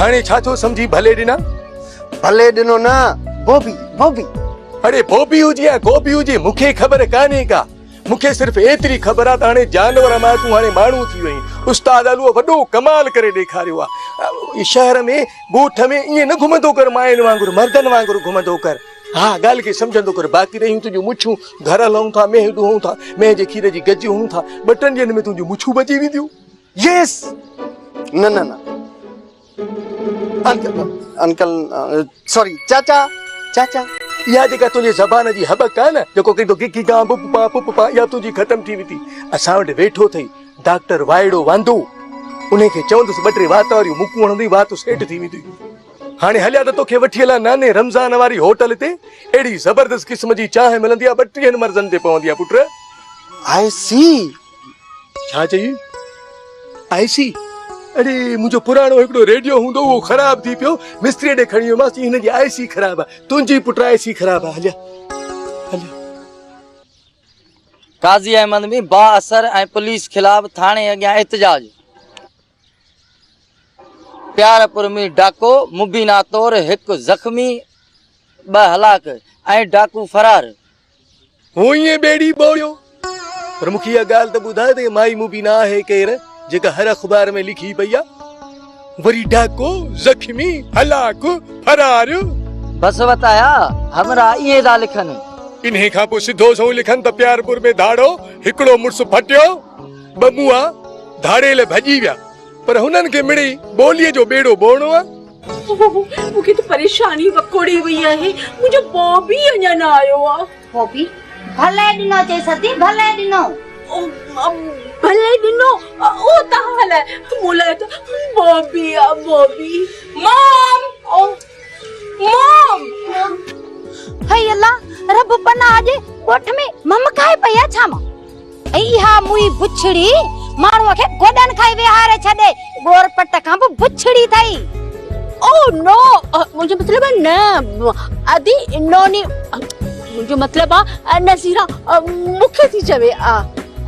هاڻي ڇا ٿو سمجهين ڀلي ڏنا. ڀلي ڏنو نه بوبي بوبي. اڙي بوبي هجي يا گوبي هجي مون کي خبر ڪانهي ڪا مون کي صرف ايتري خبر آ ته هاڻي جانور مان تون هاڻي ماڻهو ٿي وئين استاد علوء وڏو ڪمال ڪري ڏيکاريو آ شهر ۾ ڳوٺ ۾ ائين نه گهمندو ڪر ماين وانگر مردن وانگر گهمندو ڪر ها ڳالهه کي سمجهندو ڪر باقي رهيون تنهنجون مڇون گهر هلون ٿا مينهن ڏوهون ٿا مينهن جي کير جي گج هون ٿا ٻه ٽن ڏينهن ۾ تنهنجون مڇون بچي وينديون Yes! نه نه نه انڪل انڪل سوري چاچا چاچا يا جيڪا تنهنجي زبان جي هٻڪ آهي نه جيڪو ڪي ڪي ڪي گا بو پا پو پا يا تنهنجي ختم ٿي ويتي اسان وٽ ويٺو ٿئي ڊاڪٽر وائڙو واندو انهي کي چوندس ٻه ٽي وات واريون مڪون هڻندي وات سيٽ ٿي ويندي هاڻي هليا ته توکي وٺي هلان ناني رمضان واري هوٽل تي اهڙي زبردست قسم جي چانهه ملندي آ ٻه ٽيهن مرضن تي پوندي آ پٽ آء سي ڇا چئي؟ آئي سي اڙي منهنجو پراڻو هڪڙو ريڊيو هوندو اهو خراب ٿي پيو مستري ڏي کڻي ويومانس چي هن جي آئي سي خراب آهي تنهنجي پٽ آئي سي خراب آهي هليا هليا قاضي احمد ۾ با اثر ۽ پوليس خلاف ٿاڻي اڳيان احتجاج پيار پرمي ڊاڪو مبينا طور هڪ زخمي، ٻه هلاڪ ۽ ڊاڪو فرار. هو ائين ٻيڙي ٻوڙيو پر مون کي اها ڳالهه ته ٻڌاء ته هي مائي مبينا آهي ڪير جيڪا هر اخبار ۾ لکي پئي آ وري ڊاڪو زخمي هلاڪ فرار. بس وتايا همراهه ائين ٿا لکن. انهي کان پوء سڌو سنئون لکن ته پيارپور ۾ ڌاڙو هڪڙو مڙس ڦٽيو. ٻٻوئا ڌاڙيل ڀڄي ويا، پر هنن کي مڙئي ٻوليء جو ٻيڙو ٻوئڻو آ. مون کي ته پريشاني وڪوڙي وئي آهي، منهنجو بابي اڃا نه آيو آ. بابي ڀلي ڏنو چئي سدي، ڀلي ڏنو. ڀلي ڏنو، اهو توهان لاء، مون لاء ته بابي آ، بابي. مام! مام! هئي الله! رب پناهه ڏي، ڳوٺ ۾ ممڪائي پئي آ ڇا مان؟ ۽ اها موئي بڇڙي ماڻهوء کي گوڏن کان ئي ويهاري ڇڏي، ڳور پٽ کان به بڇڙي اٿئي. او نو، منهنجو مطلب آهي نه ادي نوني، منهنجو مطلب آهي نظيره مون کي ٿي چوي.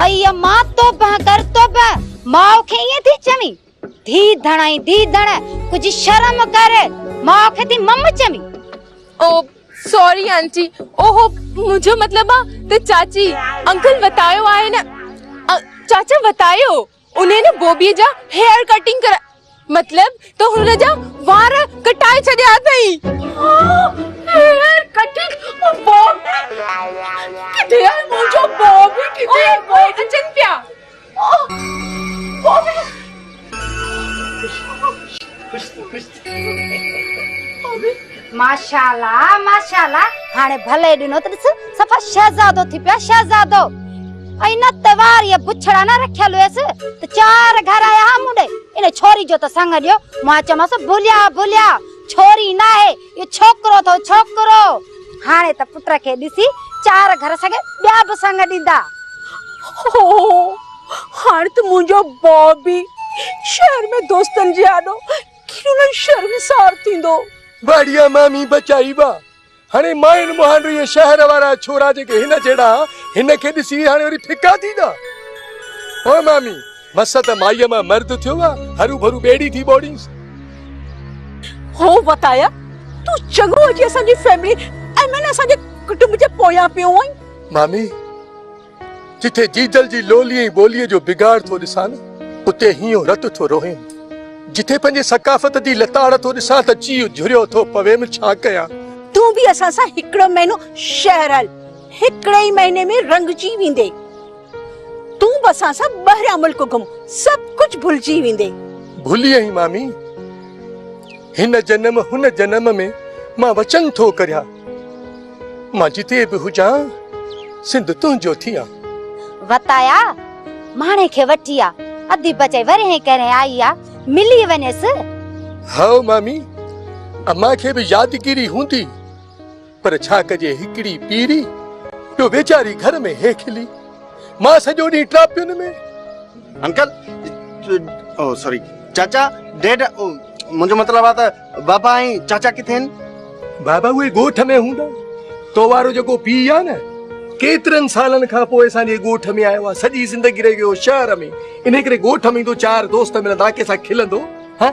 اي امان، توبه ڪر توبه، ماء کي ائين ٿي چوين؟ ڌيء ڌڻ ۽ ڌيء ڌڻ ڪجهه شرم ڪر ماء کي ٿي مم چوين. او سوري آنٽي اوهو منهنجو مطلب آ ته چاچي انڪل وتايو آهي نه چاچا وتايو انهي نه بوبي جا هيئر ڪٽنگ ڪرا مطلب ته هن جا وار ڪٽائي ڇڏيا اٿئي. هيئر ڪٽنگ او بوبي ڪٿي آهي منهنجو بوبي ڪٿي آهي اچن پيا. ماشاءالله ماشاءالله هاڻي ڀلي ڏنو ته ڏس صفا شهزادو ٿي پيا شهزادو ۽ نه توار يا بڇڙا نه رکيل هيس ته چار گهر آيا مونڊي ان ڇوري جو ته سنگ ڏيو مان چمس ڀليا ڀليا ڇوري نه آهي اهو ڇوڪرو اٿو ڇوڪرو. هاڻي ته پٽ کي ڏسي چار گهر سگهي ٻيا به سڱ ڏيندا. هو هاڻي ته منهنجو بابي شهر ۾ دوستن جي آڏو کلڻ شرمسار ٿيندو. واڙيا مامي بچائي وا. هاڻي ماين مهانڊ اهي شهر وارا ڇورا جيڪي هن جهڙا هن کي ڏسي هاڻي وري ڦڪا ٿيندا. هو مامي مس ته مائيء مان مرد ٿيو آ، هرو ڀرو ٻيڙي ٿي ٻوڙينس. هو وتايا، تون چڱو هجي اسان جي فئملي ۽ مئن اسان جي ڪٽنب جي پويان پيو آهين. مامي، جتي جيجل جي لولي ۽ ٻوليء جو بگاڙ ٿو ڏسان نه، اتي هينئون رت ٿو روهيم. جتي پنهنجي ثقافت جي لتاڙ ٿو ڏسان ته جيء جهريو ٿو پويم، ڇا ڪيان؟ تون به اسان سان هڪڙو مهينو شهر هل، هڪڙي ئي مهيني ۾ رنگجي ويندين. تون به اسان سان ٻاهريان ملڪ گهم، سڀ ڪجهه ڀلجي ويندي. ڀلي ائين مامي. هن جنم هن جنم ۾ مان وچن ٿو ڪريان. مان جتي به هجان، سنڌ تنهنجو ٿيان. وتايا ماڻهي کي وٺي آ. اڌي بچي ورهين ڪرهين آئي آ، ملي وڃيس. هائو مامي، امان کي به يادگيري هوندي. پر ڇا ڪجي هڪڙي پيري جو ويچاري گهر ۾ هي کلي مان سڄو ڏينهن ٽاپين ۾. انڪل او سوري چاچا ڊيڊ او منهنجو مطلب آ ته بابا ۽ چاچا ڪٿي هن؟ بابا اهي ڳوٺ ۾ هوندا تو وارو جيڪو پيء آ نه ڪيترن سالن کان پوء اسان جي ڳوٺ ۾ آيو آ سڄي زندگي رهي ويو شهر ۾ انهي ڪري ڳوٺ ۾ ايندو چار دوست ملندا ڪنهن سان کلندو ها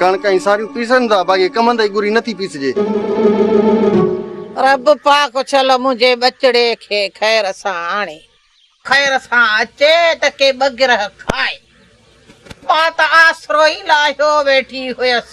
ڪڻڪ ۽ ساريون پيسن ٿا باقي ڪمند جي ڳري نٿي پيسجي. رب پاڪ اڇل منهنجي ٻچڙي کي خير سان آڻي. خير سان اچي ته ڪي ٻه گرهه کائي. مان ته آسرو ئي لاهيو ويٺي هيس.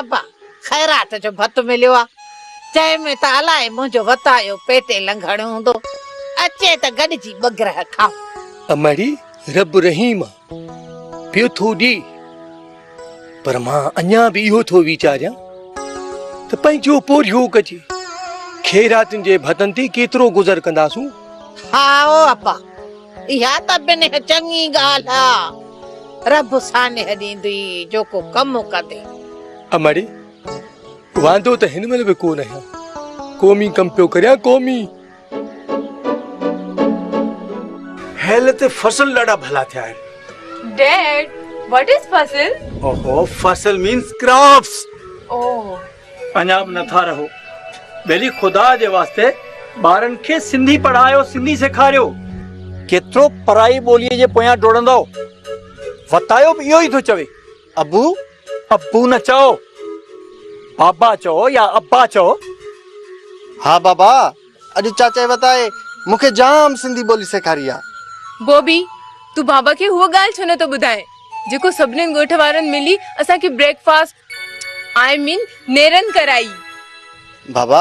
ابا، خيرات جو ڀت مليو آ، جنهن ۾ ته الائي منهنجو وتايو پيٽي لنگهڻ هوندو، اچي ته گڏجي ٻه گرهه کائون. امڙي رب رحيم آ، پيو ٿو ڏي، پر مان اڃا به اهو ٿو ويچاريان ته پنهنجو پورهيو ڪجي، خيراتن جي ڀتن تي ڪيترو گذر ڪنداسون؟ هائو ابا، اها ته بنهه چڱي ڳالهه آ. رب سانح ڏيندئي جو ڪو ڪم ڪندي. امڙي! واندو ته هن مهل به ڪو نه آهيان. قومي ڪم پيو ڪريان قومي. هيل تي فصل ڏاڍا ڀلا ٿيا آهن. ڊيڊ وٽ از فصل؟ اوهو فصل مينز ڪراپس. اوهو. اڃا به نٿا رهو ڀلي خدا جي واسطي ٻارن کي سنڌي پڙهايو سنڌي سيکاريو ڪيترو پرائي ٻولي جي پويان ڊوڙندؤ وتايو به اهو ئي ٿو چوي ابو ابو نه چئو بابا چئو يا ابا چئو ها بابا اڄ چاچائي وتائي مون کي جام سنڌي ٻولي سيکاري آ. بوبي، تون بابا کي هوء ڳالهه ڇو نه ٿو ٻڌائين، جيڪو سڀنين ڳوٺ وارن ملي اسان کي بريڪ فاسٽ آء مين نيرن ڪرائي. بابا،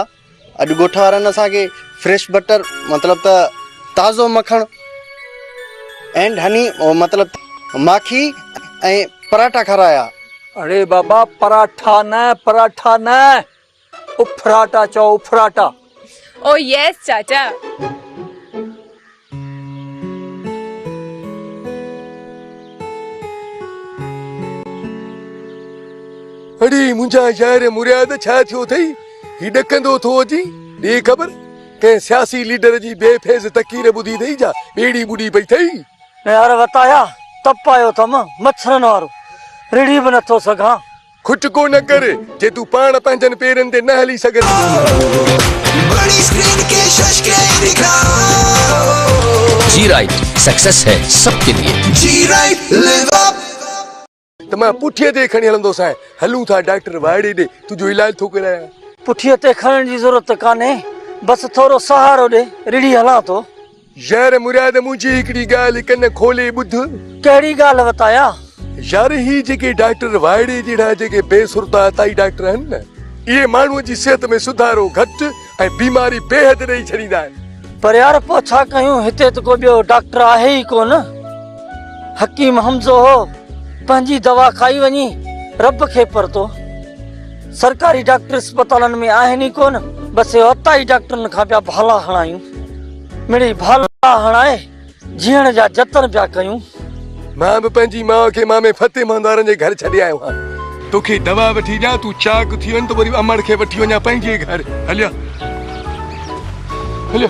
اڄ ڳوٺ وارن اسان کي فريش بٽر مطلب ته تازو مکڻ اينڊ هني مطلب ته ماکي ۽ پراٺا کارايا. اڙي بابا، پراٺا نه، پراٺا نه. اڦراٽا چئو اڦراٽا. او يس چاچا. اڙي منهنجا يار مرياد ڇا ٿيو اٿئي هي ڏڪندو ٿو اچي ڏي خبر ڪنهن سياسي ليڊر جي بي فيض تقرير ٻڌي اٿئي جا ٻيڙي ٻڏي پئي اٿئي. يار وتايا تپ آيو اٿم مڇرن وارو رڙهي به نٿو سگهان. کٽ ڪو نه ڪر جي تون پاڻ پنهنجن پيرن تي نه هلي سگهين. ته مان پٺيء تي کڻي هلندوسانء. هلون ٿا ڊاڪٽر واڙي ڏي تنهنجو علاج ٿو ڪرايان. پٺيء تي کڻڻ جي ضرورت ته ڪانهي، بس ٿورو سهارو ڏي رڙهي هلان ٿو. يار مراد منهنجي هڪڙي ڳالهه ڪن کولي ٻڌ. ڪهڙي ڳالهه وتايا؟ يار هي جيڪي ڊاڪٽر وائڙي جهڙا جيڪي بي سرتا عطائي ڊاڪٽر آهن نه اهي ماڻهوء جي صحت ۾ سڌارو گهٽ ۽ بيماري بيحد ڏئي ڇڏيندا آهن. پر يار پوء ڇا ڪيون هتي ته ڪو ٻيو ڊاڪٽر آهي ئي ڪونه. حڪيم حمزو هو پنهنجي دوا کائي وڃي رب کي پرتو. سرڪاري ڊاڪٽر اسپتالن ۾ آهن ئي ڪونه بس اهو عطائي ڊاڪٽرن کان پيا ڀالا هڻايون مڙئي ڀالا هڻائي جيئڻ جا جتن پيا ڪيون. مان به پنهنجي ماء کي مامي فتح مهندوارن جي گهر ڇڏي آيو آهيان. توکي دوا وٺي ڏيان تون چاق ٿي وڃ ته وري امڙ کي وٺي وڃان پنهنجي گهر هليا هليا.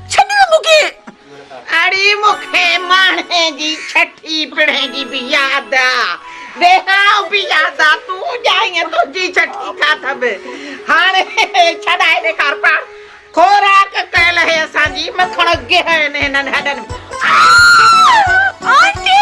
ڇڏيو مون کي. اڙي مون کي ماڻهي جي ڇٺي پڙهي جي به ياد آ. بيها به ياد آ. تون ڄائينء تنهنجي ڇٺي کاڌم. هاڻي ڇڏائي ڏيکار پاڻ. خوراڪ ڪيل هي اسان جي. مکڻ گهين هنن هڏن ۾. آنٽي!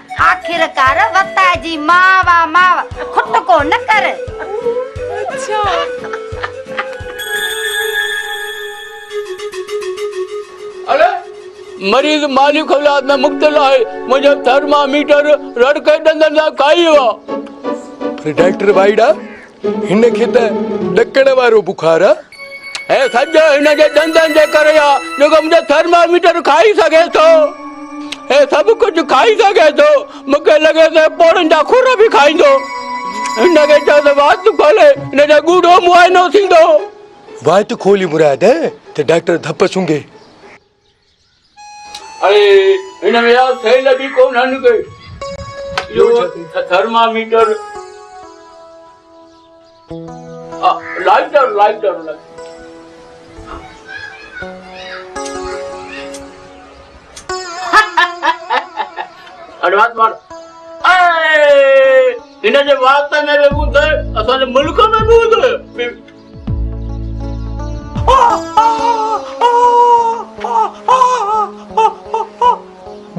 آخرڪار وتاء جي ماء وا ماء کٽڪو نه ڪر. اڙي مريض مالي خلات ۾ مبتلا آهي منهنجو ٿرماميٽر رڙڪي ڏندن سان کائي ويو آهي ڊاڪٽر وائيڊا هن کي ته ڏڪڻ وارو بخار آ. هي سڄو هن جي ڏندن جي ڪري آ جيڪو منهنجو ٿرماميٽر کائي سگهي ٿو. هي سڀ ڪجهه کائي سگهي ٿو. مون کي لڳي ٿو هي پوڙهن جا خر به کائيندو. هن کي چئو ته وات کولي هن جو ڳوڙهو معائنو ٿيندو. وات کولي مراد ته ڊاڪٽر ڌپ سونگهي. اهي هن ۾ ياد ٿيل به ڪونهن ڪي جو ٿرماميٽر لائٽر لائٽر هن جي وات ۾ به ٻڌ اسان جي ملڪ ۾ به ٻڌ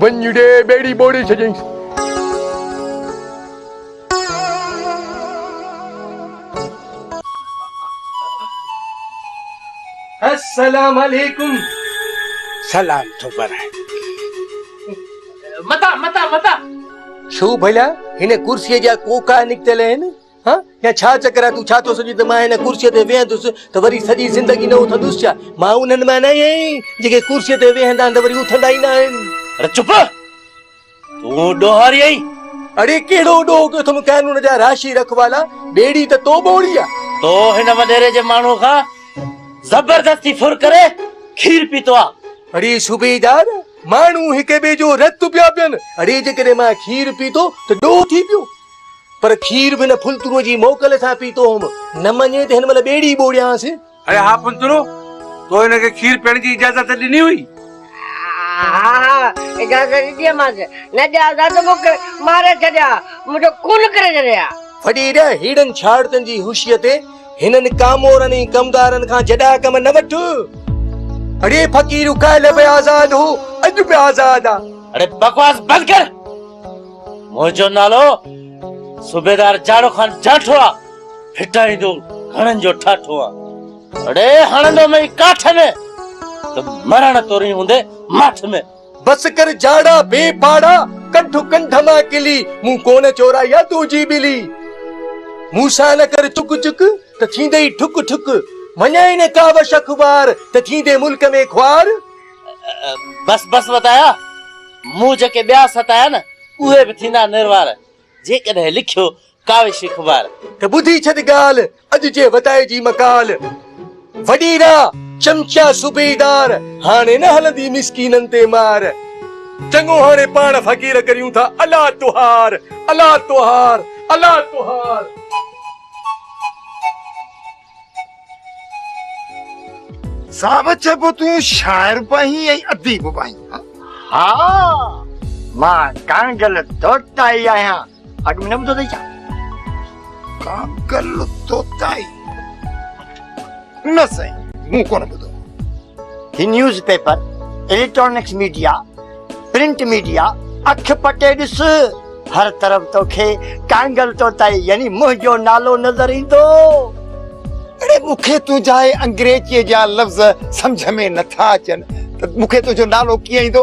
ونڃڙي ٻيڙي ٻوڙي ڇڏيائينس. السلام عليڪم. سلام ٿو پرائي. متان متان متان. ڇو ڀلا هن ڪرسيء جا ڪوڪا نڪتل آهن؟ ها يا ڇا چڪر آهي تون ڇا ٿو سمجهين ته مان هن ڪرسيء تي ويهندس ته وري سڄي زندگي نه اٿندس ڇا مان انهن مان نه آهيان جيڪي ڪرسيء تي ويهندا آهن ته وري اٿندا ئي نه آهن اڙي چپ تون ڏوهاري آهين اڙي ڪهڙو ڏوهه ڪيو اٿم قانون جا راشي رکوالا ٻيڙي ته تو ٻوڙي آ تو هن وڏيري جي ماڻهو کان زبردستي ڦر ڪري کير پيتو آ اڙي صوبيدار ماڻهو هڪ ٻئي جو رت پيا پين اڙي جيڪڏهن مان کير پيتو ته ڏوهه ٿي پيو پر کير به هن ڦلتروء جي موڪل سان پيتو هوم، نه مڃي ته هن مهل ٻيڙي ٻوڙيانس. اڙي ها ڦلترو، تو هن کي کير پيئڻ جي اجازت ڏني هئي؟ ها ها، اجازت ڏني هئمانس. نه ڏيا ها ته مونکي ماري ڇڏي ها، منهنجو خون ڪري ڇڏي ها. وڏيري، ههڙن ڇاڙتن جي هوشيء تي هنن ڪامورن ۽ ڪمدارن کان جڏا ڪم نه وٺ. اڙي فقير، ڪالهه به آزاد هو، اڄ به آزاد آ. اڙي بڪواس بند ڪر. منهنجو نالو صوبيدار جاڙو خان جاٺو آ هٽائيندو گهڻن جو ٺاٺو آ اڙي هڻندو مئي ڪاٺ ۾ ته مرڻ توري هوندي ماٺ ۾ بس ڪر جاڙا بي پاڙا ڪنٺ ڪنٺ مان ڪلي مون ڪونه چورائي آ تو جي ٻلي مون سان نه ڪر چڪ چڪ ته ٿيندئي ٺڪ ٺڪ وڃائي نه ڪاوش اخبار ته ٿيندي ملڪ ۾ خوار بس بس وتايا، مون جيڪي ٻيا ستايا نه، اهي به ٿيندا نروار، جيڪڏهن لکيو ڪاوش خمار. ته ٻڌي ڇڏ ڳالهه، اڄ جي وتائي جي مقال، وڏي راء چمچا صوبيدار، هاڻي نه هلندي مسڪينن تي مار، چڱو هاڻي پاڻ فقير ڪريون ٿا الا تهار، الا تهار، الا تهار. صاحب چئبو تون شاعر به آهين ۽ اديب به آهين ها مان ڪانگل توتائي آهيان اڳ ۾ نه ٻڌو اٿئي ڇا ڪانگل توتائي نه سائين مون ڪونه ٻڌو هي newspaper, electronics media, print media, اک پٽي ڏس، هر طرف توکي ڪانگل طوطائي يعني منهنجو نالو نظر ايندو. اڙي مون کي تنهنجا اهي انگريزيء جا لفظ سمجهه ۾ نٿا اچن ته مون کي تنهنجو نالو ڪيئن ايندو؟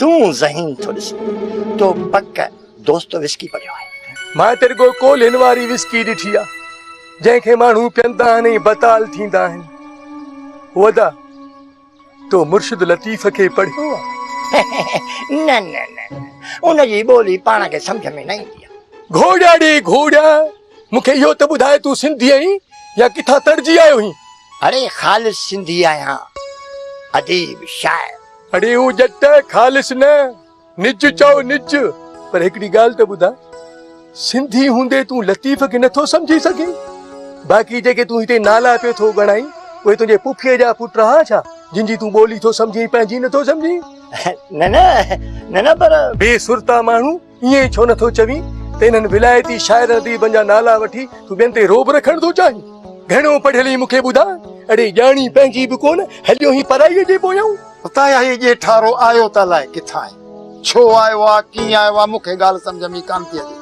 تون ذهين ٿو ڏسي تو پڪ دوستو وسڪي پڙهيو آهي مان ته رڳو ڪولهين واري وسڪي ڏٺي آهي جنهن کي ماڻهو پيئندا آهن ۽ بتال ٿيندا آهن ودا تو مرشد لطيف کي پڙهيو آهي نه نه نه ان جي ٻولي پاڻ کي سمجھ ۾ نه ايندي آهي گهوڙيا ڙي گهوڙيا مون کي اهو ته ٻڌاء تون سنڌي آهين يا ڪٿان تڙجي آيو هين؟ اڙي خالص سنڌي آهيان اديب شاعر. اڙي او ڄٽ خالص نه نج چئو نج پر هڪڙي ڳالهه ته ٻڌاء سنڌي هوندي تون لطيف کي نٿو سمجهي سگهين باقي جيڪي تون هتي نالا پيو ٿو ڳڻائين اهي تنهنجي پڦيء جا پٽ رها ڇا جن جي تون ٻولي ٿو سمجهين پنهنجي نٿو سمجهين نه نه نه نه پر. بي سرتا ماڻهو ائين ئي ڇو نه ٿو چوين ته انهن ولايتي شاعرن اديبن جا نالا وٺي تون ٻين تي رعب رکڻ ٿو چاهين؟ گهڻو پڙهيل هين مون کي ٻڌاء، اڙي ڄاڻي پنهنجي به ڪونه، هليو هين پرائيء جي پويان. اتان اهي ڄيٺارو آيو ته الاء ڪٿان آهي، ڇو آيو آهي، ڪيئن آيو آهي، مون کي ڳالهه سمجهه ۾ ئي ڪانه ٿي اچي.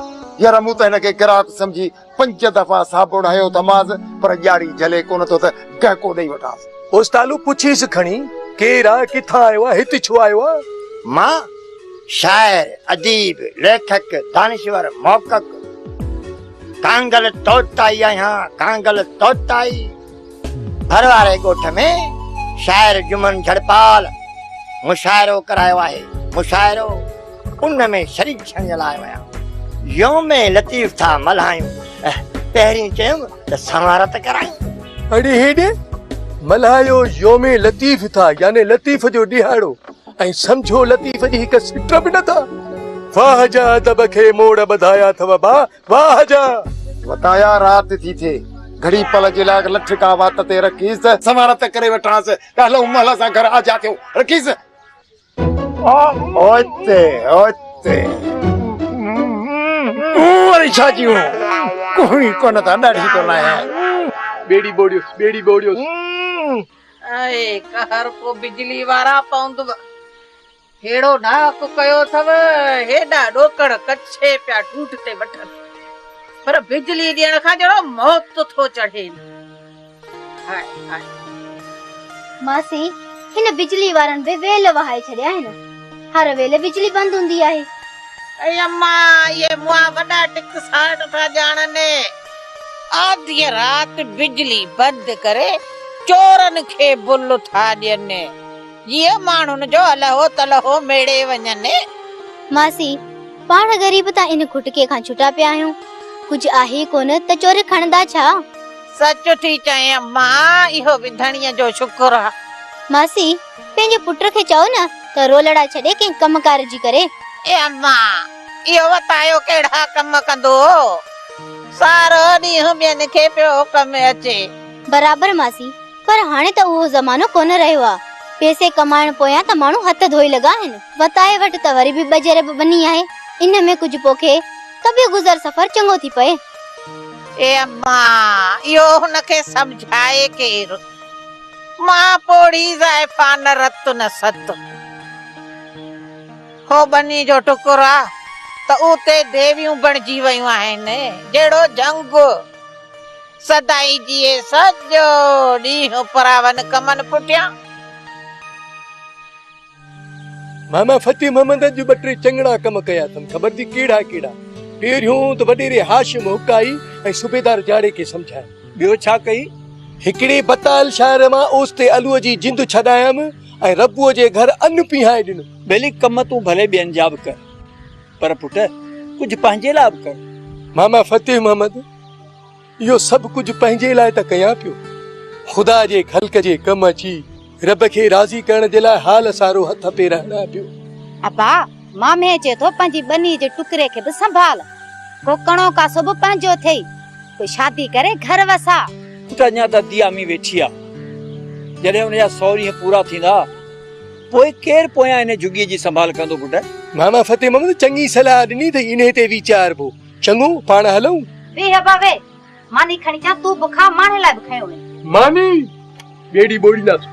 ير مون ته هن کي گراهڪ سمجهي پنج دفعا صابڻ هنيو ٿمانس پر ڄاڙي جهلي ڪونه ٿو ته گهڪو ڏئي وٺانس. اوستالو پڇيس کڻي، ڪير آ، ڪٿان آيو آ، هت ڇو آيو آ؟ مان شاعر، اديب، ليکڪ، دانشور، محقق ڪانگل طوطائي آهيان، ڪانگل طوطائي! ڀر واري ڳوٺ ۾ شاعر جمن جھڙپال مشاعرو ڪرايو آهي. مشاعرو ان ۾ شريڪ ٿيڻ جي لاء ويا. يوم لطيف ٿا ملهايون. پهرين چيم ته سنوار ته ڪرايون. اڙي هيڏي ملهايو يوم لطيف ٿا يعني لطيف جو ڏهاڙو ۽ سمجهو لطيف جي هڪ سٽ به نه ٿا. واهه جا ادب کي موڙ ٻڌايا اٿو ابا. واهه جا وتايا رات ٿي ٿئي. گهڙي پل جي لاء لٺ ڪا وات تي رکيس. سنوار ته ڪري وٺانس. ڪهلو مهل سان گهر آجيا ٿيو. رکيس. اوچتي اوچتي. هون وري ڇا چيون. ڪوهي ڪونه ٿا ڏاڍي ٿو لاهيان. ٻيڙي ٻوڙيوس ٻيڙي ٻوڙيوس. اي قهر ڪو بجلي وارا پوندو. ههڙو ناحق ڪيو اٿئو، هيڏا ڏوڪڙ ڪڇي پيا ڍوڍ تي وٺن، پر بجلي ڏيڻ کان جهڙو موت ٿو چڙهين. High high. ماسي، هن بجلي وارن به ويل وهائي ڇڏيا آهن. هر ويل بجلي بند هوندي آهي. اي اما، اهي موئا وڏا ٽڪساٽ ٿا ڄاڻن. آڌيء رات بجلي بند ڪري چورن کي بل ٿا ڏين. جيئن ماڻهن جو الهو تلهو ميڙي وڃن. ماسي، پاڻ غريب ٿا ان کٽڪي کان ڇٽا پيا آهيون. ڪجهه آهي ڪونه ته چوري کڻندا ڇا؟ سچ ٿي چئين امان، اهو به ڌڻيء جو شڪر آ. ماسي، پنهنجي پٽ کي چئو نه ته رولڙا ڇڏي ڪنهن ڪم ڪار جي ڪري. اي امان، اهو وتايو ڪهڙا ڪم ڪندو هو. سارو ڏينهن ٻين کي پيو ڪم اچي. برابر ماسي، پر هاڻي ته اهو زمانو ڪونه رهيو آ. پيسي ڪمائڻ پويان ته ماڻهو هٿ ڌوئي لڳا آهن. وتايي وٽ ته وري به ٻه جرب ٻني آهي. ان ۾ ڪجهه پوکي ته به گذر سفر چڱو ٿي پئي. اي اما! اهو هن کي سمجهائي ڪير؟ مان پوڙهي زائفا نه رت نه ست. هو ٻني جو ٽڪر آ ته اتي ديويون بڻجي ويون آهن. جهڙو جهنگ. سدائين جيئي سڄو ڏينهن پراون ڪمن پٽيان. ماما فتح محمد اڄ ٻه ٽي چڱڙا ڪم ڪيا اٿم خبر ٿي ڪهڙا ڪهڙا. پهريون ته وڏيري هاشم حقائي ۽ صوبيدار جاڙي کي سمجهايم. ٻيو ڇا ڪئي؟ هڪڙي بتال شاعر مان اوستي علوء جي جند ڇڏايم ۽ ربوء جي گهر ان پيهائي ڏنو. ٻيلي ڪم تون ڀلي ٻين جا به ڪر پر پٽ ڪجهه پنهنجي لاء به ڪر. ماما فتح محمد اهو سڀ ڪجهه پنهنجي لاء ته ڪيان پيو، خدا جي خلق جي ڪم اچي رب کي راضي ڪرڻ جي لاء حال سارو هٿ پير هڻان پيو. ابا، مامي چئي ٿو پنهنجي ٻنيء جي ٽڪري کي به سنڀال، ڪو ڪڻو ڪاسو به پنهنجو ٿئي، پوء شادي ڪري گهر وساء. پٽ اڃا ته ديامي ويٺي آ، جڏهن ان جا سؤ ڏينهن پورا ٿيندا، پوء ڪير پويان ان جهڳيء جي سنڀال ڪندو پٽ؟ ماما فتح محمد چڱي صلاح ڏني اٿئي، انهيء تي ويچاربو. چڱو، پاڻ هلون. ويهه ابا ويهه. ماني کڻي اچان، تون به کاء، ماڻهن لاء به کنيو وڃي. ماني ٻيڙي ٻوڙينداسون.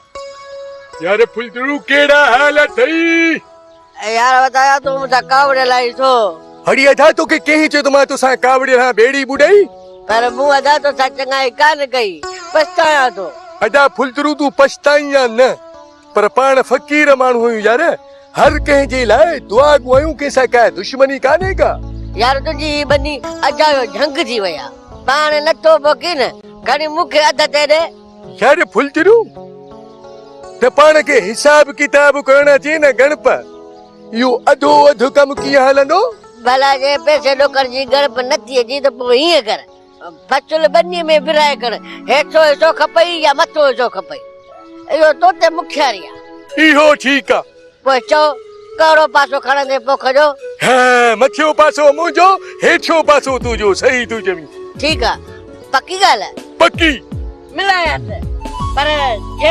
يار ڦلجڙو ڪهڙا حال اٿئي. يار وڌايا تون مون سان ڪاوڙي لائي ٿو. هڙي ادا توکي ڪنهن چيو ته مان توسان ڪاوڙي لهان ٻيڙي ٻڏائي. پر مون ادا توسان چڱائي ڪانه ڪئي پڇتايان ٿو. ادا ڦلجڙو تون پڇتائين يا نه پر پاڻ فقير ماڻهو آهيون يار هر ڪنهن جي لاء دعا گو آهيون ڪنهن سان ڪا دشمني ڪانهي ڪا. يار تنهنجي هي ٻني اجايو جهنگ ٿي وئي آ پاڻ نٿو پوکين گهڻي مون کي اڌ تي ڏي. يار ڦلجرو ته پاڻ کي حساب ڪتاب ڪرڻ اچي نه گڻپ اهو اڌو اڌ ڪم ڪيئن هلندو ڀلا جي پيسي ڏوڪر جي ڳڻپ نٿي اچي ته پوء هيئن ڪر بچل ٻني ۾ ورهائي کڻ هيٺو حصو کپئي يا مٿو حصو کپئي اهو تو تي مکياري آهي اهو ٺيڪ آهي پوء چئو، ڪهڙو پاسو کڻندين پوک جو؟ هه، مٿيون پاسو منهنجو، هيٺيون پاسو تنهنجو. صحيح ٿيون چوين. ٺيڪ آ. پڪي ڳالهه آ. پڪي. ملان هٿ. پر جي.